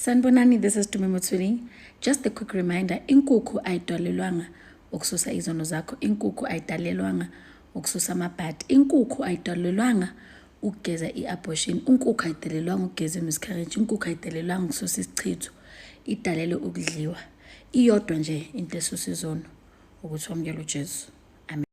Sanbonani, this is Tumi Mutsuni. Just a quick reminder, inkukhu ayidalelwanga ukususa izono zakho, inkukhu ayidalelwanga ukususa amabhadi, inkukhu ayidalelwanga ukugeza i-abortion, inkukhu ayidalelwanga ukugeza i-miscarriage, inkukhu ayidalelwanga ukususa isichitho, idalelwe ukudliwa. Iyodwa nje into esusa izono ukuthi wamukele uJesu.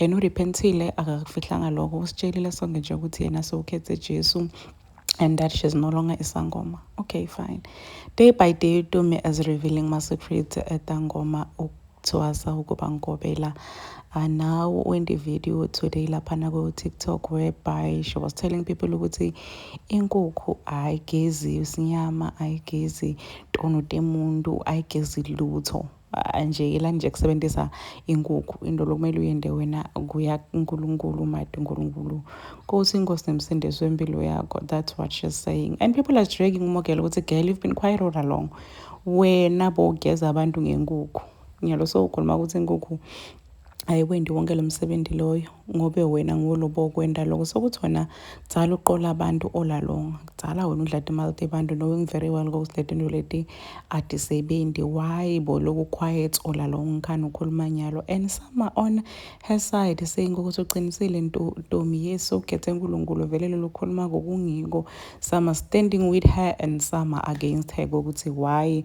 and urepentile akakufihlanga lokho usitshelile sonke nje ukuthi yena sewukhethe jesu and that she's no longer isangoma okay fine day by day utomi as revealing ma-secret etangoma ukuthwasa ukuba ngigobela uh, now when the video today laphana ku-tiktok whereby she was telling people ukuthi inkukhu ayigezi isinyama ayigezi tono temuntu ayigezi lutho nje yelani nje kusebenzisa inkukhu into lokumele uyende wena kuya kuNkulunkulu made uNkulunkulu Nkosi inkosi nemsindisi wempilo yakho that's what she's saying and people are dragging umogela ukuthi girl you've been quite all along wena bogeza abantu ngenkukhu ngiyalo so ukhuluma ukuthi inkukhu ayiwendi wonke lo msebenzi loyo ngobe wena ngolobo okwenda loko sokuthi wena kudzala uqola abantu olalonga kudzala wena udla timali tebantu knowing very well ukuthi letinto leti atisebenzi why bo loku quiet olalonga ngikhani ukhuluma nyalo and sama on her side saying ukuthi uqinisile ntomi yesu ukhethe nkulunkulu vele lolu khuluma kokungiko sama standing with her and sama against her kokuthi why